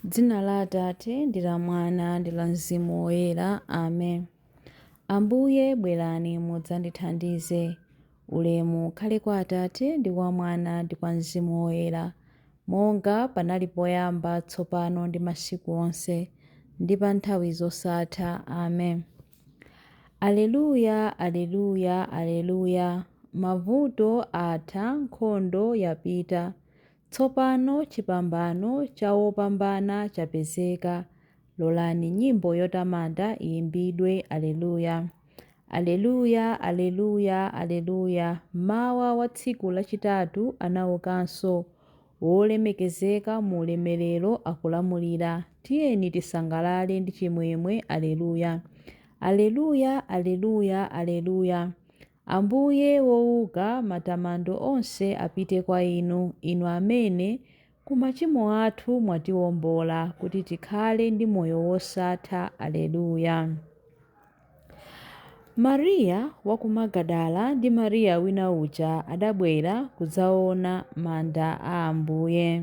M'dzina la Atate, ndi la Mwana, ndi la Mzimu Woyera. Amen. Ambuye, bwerani mudzandithandize. Ulemu ukhale kwa Atate, ndi kwa Mwana, ndi kwa Mzimu Woyera, monga panali poyamba, tsopano, ndi masiku onse, ndi pa nthawi zosatha. Amen. Aleluya, aleluya, aleluya! Mavuto atha, nkhondo yapita, Tsopano chipambano cha wopambana chapezeka. Lolani nyimbo yotamanda iyimbidwe, Aleluya! Aleluya! Aleluya! Aleluya! Mmawa wa tsiku lachitatu anaukanso, wolemekezeka mu ulemerero, akulamulira. Tiyeni tisangalale ndi chimwemwe, Aleluya! Aleluya! Aleluya! Aleluya! Ambuye wouka matamando onse apite kwa inu, inu amene, ku machimo athu mwatiwombola kuti tikhale ndi moyo wosatha. Aleluya. Mariya wa ku Magadala ndi Mariya wina uja adabwera kudzaona manda a Ambuye.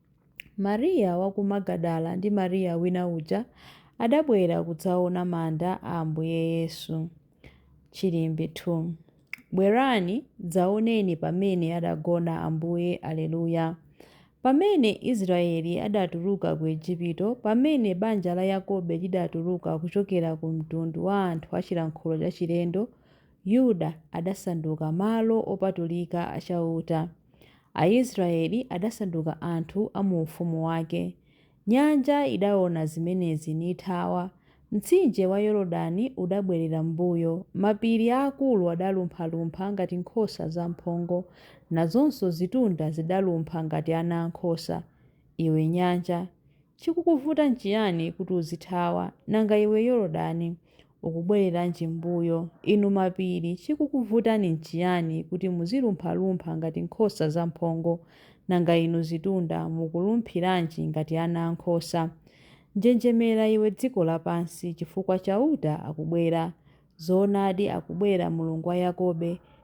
Mariya wa ku Magadala ndi Mariya wina uja adabwera kudzaona manda a Ambuye Yesu. Chilimbi 2 Bwerani, dzaoneni pamene adagona Ambuye Aleluya. Pamene Israeli adatuluka ku Ejipito, pamene banja la Yakobe lidatuluka kuchokera ku mtundu wa anthu a chilankhulo chachilendo, Yuda adasanduka malo opatulika a Chauta. Aisraeli adasanduka anthu a mu ufumu wake. Nyanja idaona zimenezi nithawa. Mtsinje wa Yorodani udabwerera m'mbuyo. Mapiri aakulu adalumphalumpha ngati nkhosa zamphongo, nazonso zitunda zidalumpha ngati ana a nkhosa. Iwe nyanja, chikukuvuta nchiyani kuti uzithawa? Nanga iwe Yorodani, Ukubwereranji mmbuyo? Inu mapiri, chikukuvutani nchiyani kuti muzilumphalumpha ngati nkhosa zamphongo? Nanga inu zitunda, mukulumphiranji ngati ana a nkhosa? Njenjemera, iwe dziko lapansi, chifukwa Chauta akubwera. Zoonadi akubwera, Mulungu wa Yakobe,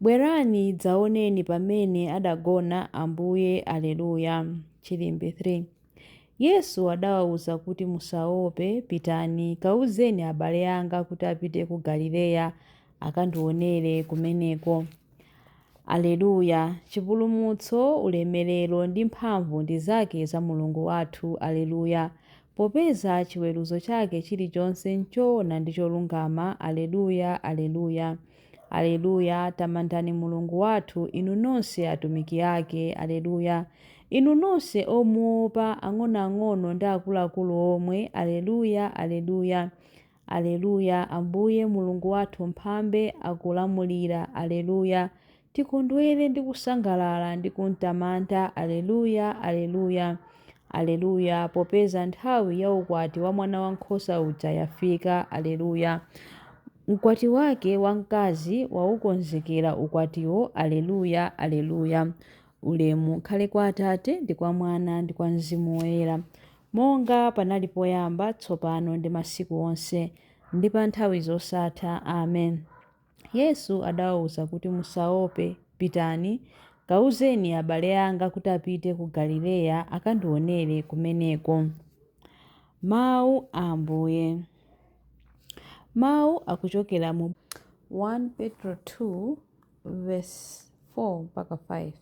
Bwerani dzaoneni pamene adagona Ambuye Aleluya. Chilimbi 3 Yesu adawauza kuti musaope, pitani, kauzeni abale anga kuti apite ku Galileya, akandionere kumeneko. Aleluya. Chipulumutso, ulemerero ndi mphamvu ndi zake za Mulungu wathu. Aleluya. Popeza chiweruzo chake chilichonse nchoona ndi cholungama. Aleluya, Aleluya. Aleluya! Tamandani Mulungu wathu, inu nonse atumiki ake. Aleluya! Inu nonse omuopa, ang'onoang'ono ndi akuluakulu omwe. Aleluya! Aleluya! Aleluya! Ambuye Mulungu wathu Mphambe akulamulira. Aleluya! Tikondwere ndi kusangalala ndi kumtamanda, Aleluya, Aleluya, Aleluya, popeza nthawi ya ukwati wa mwana wankhosa uja yafika, Aleluya. Mkwati wake wamkazi waukonzekera ukwatiwo, Aleluya, Aleluya. Ulemu ukhale kwa Atate, ndi kwa Mwana, ndi kwa Mzimu Woyera, monga panali poyamba, tsopano, ndi masiku onse, ndi pa nthawi zosatha. Amen. Yesu adawauza kuti, Musaope, pitani, kauzeni abale anga kuti apite ku Galileya, akandiwonere kumeneko. Mawu a Ambuye. Mawu akuchokera mu 1 Petro 2 vesi 4 mpaka 5.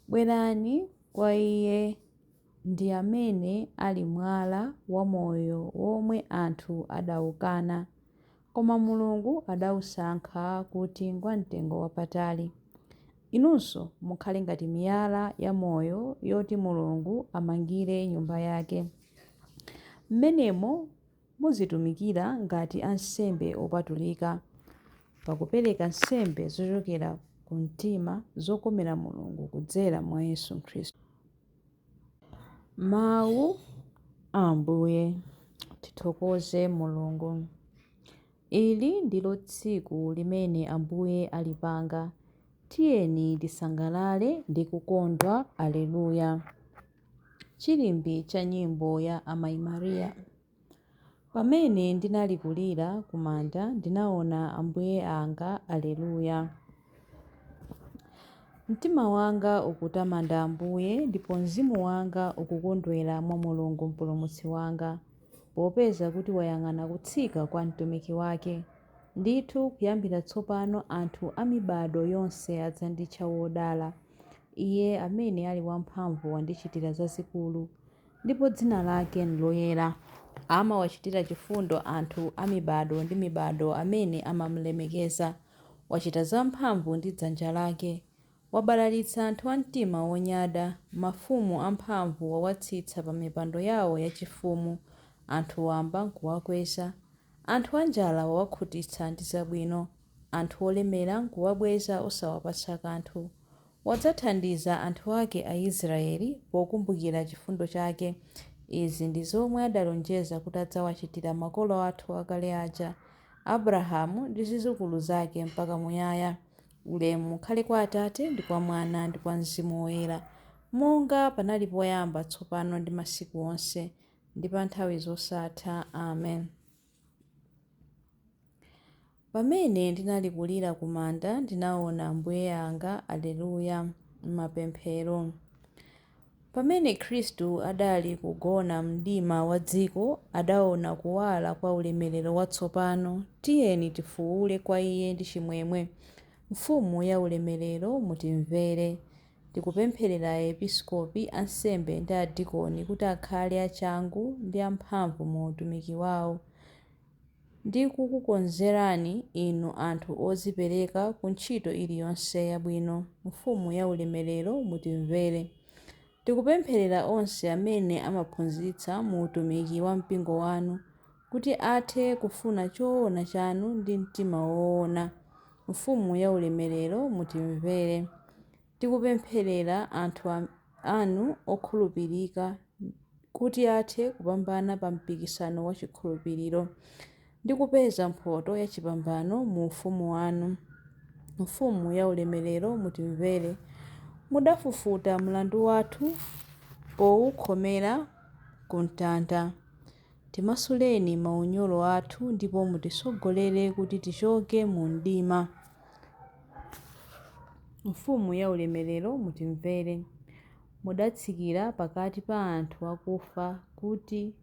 Bwerani kwa iye ndi amene ali mwala wa moyo womwe anthu adaukana, Koma Mulungu adausankha kuti ngwamtengo wapatali. Inunso mukhale ngati miyala yamoyo yoti Mulungu amangire Nyumba yake. M'menemo muzitumikira ngati ansembe opatulika, pakupereka nsembe zochokera ku mtima zokomera Mulungu kudzera mwa Yesu Khristu. Mawu a Ambuye. Tithokoze Mulungu. Ili ndilo tsiku limene Ambuye alipanga, tiyeni tisangalale ndi kukondwa. Aleluya. Chilimbi cha nyimbo ya Amayi Maria. Pamene ndinali kulira ku manda ndinaona Ambuye anga Aleluya. Mtima wanga ukutamanda Ambuye ndipo mzimu wanga ukukondwera mwa Mulungu Mpulumutsi wanga, popeza kuti wayang'ana kutsika kwa mtumiki wake. Ndithu kuyambira tsopano anthu a mibado yonse adzanditcha wodala. Iye amene ali wamphamvu wandichitira zazikulu, ndipo dzina lake n'loyera. Amawachitira chifundo anthu a mibado ndi mibado amene amamulemekeza. Wachita zamphamvu ndi dzanja lake. Wabalalitsa anthu a mtima wonyada. Mafumu amphamvu wawatsitsa pamipando yawo yachifumu, anthu wamba n'kuwakweza. Anthu anjala wawakhutitsa ndi zabwino, anthu olemera n'kuwabweza osawapatsa kanthu. Wadzathandiza anthu ake Aisraele pokumbukira chifundo chake. Izi ndi zomwe adalonjeza kuti adzawachitira makolo athu akale aja, Abrahamu ndi zidzukulu zake mpaka muyaya. Ulemu ukhale kwa Atate, ndi kwa Mwana, ndi kwa Mzimu Woyera, monga panali poyamba, tsopano ndi masiku onse, ndi pa nthawi zosatha. Amen. Pamene ndinali kulira kumanda ndinaona Ambuye anga Alleluia Mapemphero. Pamene Khristu adali kugona m'mdima wa dziko adaona kuwala kwa ulemerero watsopano tiyeni tifuule kwa iye ndi chimwemwe Mfumu ya ulemerero mutimvere Tikupempherera episkopi, ansembe ndi adikoni kuti akhale achangu ndi amphamvu mu utumiki wao. ndi kukukonzerani inu anthu odzipereka ku ntchito iliyonse yabwino, Mfumu ya ulemerero, mutimvere. Tikupempherera onse amene amaphunzitsa mu utumiki wa mpingo wanu, kuti athe kufuna choona chanu ndi mtima woona, Mfumu ya ulemerero, mutimvere. Tikupempherera anthu anu okhulupirika kuti athe kupambana pa mpikisano wa chikhulupiriro ndi kupeza mphotho ya chipambano mu ufumu wanu. Mfumu ya ulemerero, mutimvere. Mudafufuta mlandu wathu poukhomera ku mtanda. Timasuleni maunyolo athu ndipo mutisogolere kuti tichoke mu mdima. Mfumu ya ulemerero mutimvere. Mudatsikira pakati pa anthu akufa kuti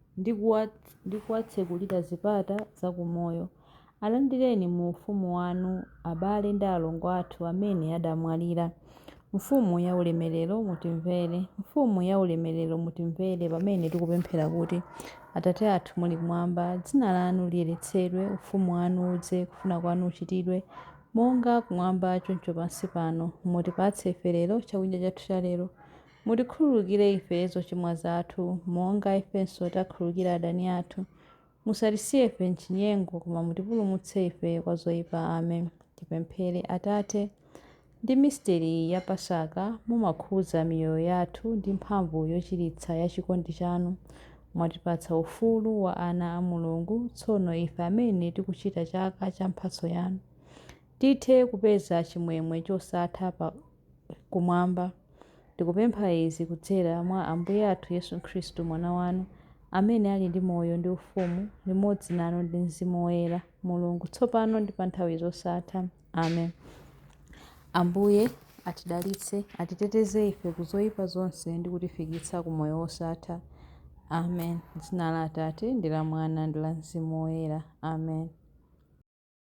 ndi kuwatsekulira zipata za kumoyo. Alandireni mu Ufumu wanu abale ndi alongo athu amene adamwalira. Mfumu yaulemerero, mutimvere. Mfumu yaulemerero, mutimvere pamene tikupemphera kuti, Atate athu muli kumwamba, dzina lanu liyeretsedwe, ufumu wanu udze, kufuna kwanu kuchitidwe, monga kumwamba choncho pansi pano. Mutipatse ife lero chakudya chathu chalero. Mutikhululukire ife zochimwa zathu, monga ifenso takhululukira adani athu. Musatisiye ife m'chinyengo, koma mutipulumutse ife kwa zoipa. Amen. Tipemphere. Atate, ndi misteri ya Pasaka, mumakhuza miyoyo yathu ndi mphamvu yochiritsa ya chikondi chanu. Mwatipatsa ufulu wa ana a Mulungu, tsono ife amene tikuchita chaka cha mphatso yanu, tithe kupeza chimwemwe chosatha pa. kumwamba. Tikupempha izi kudzera mwa Ambuye athu Yesu Khristu, Mwana wanu, amene ali ndi moyo ndi ufumu limodzi nanu ndi Mzimu Woyera, Mulungu, tsopano ndi pa nthawi zosatha. Amen. Ambuye atidalitse, atiteteze ife ku zoyipa zonse ndi kutifikitsa ku moyo wosatha. Amen. Dzina la Atate ndi la Mwana ndi la Mzimu Woyera. Amen.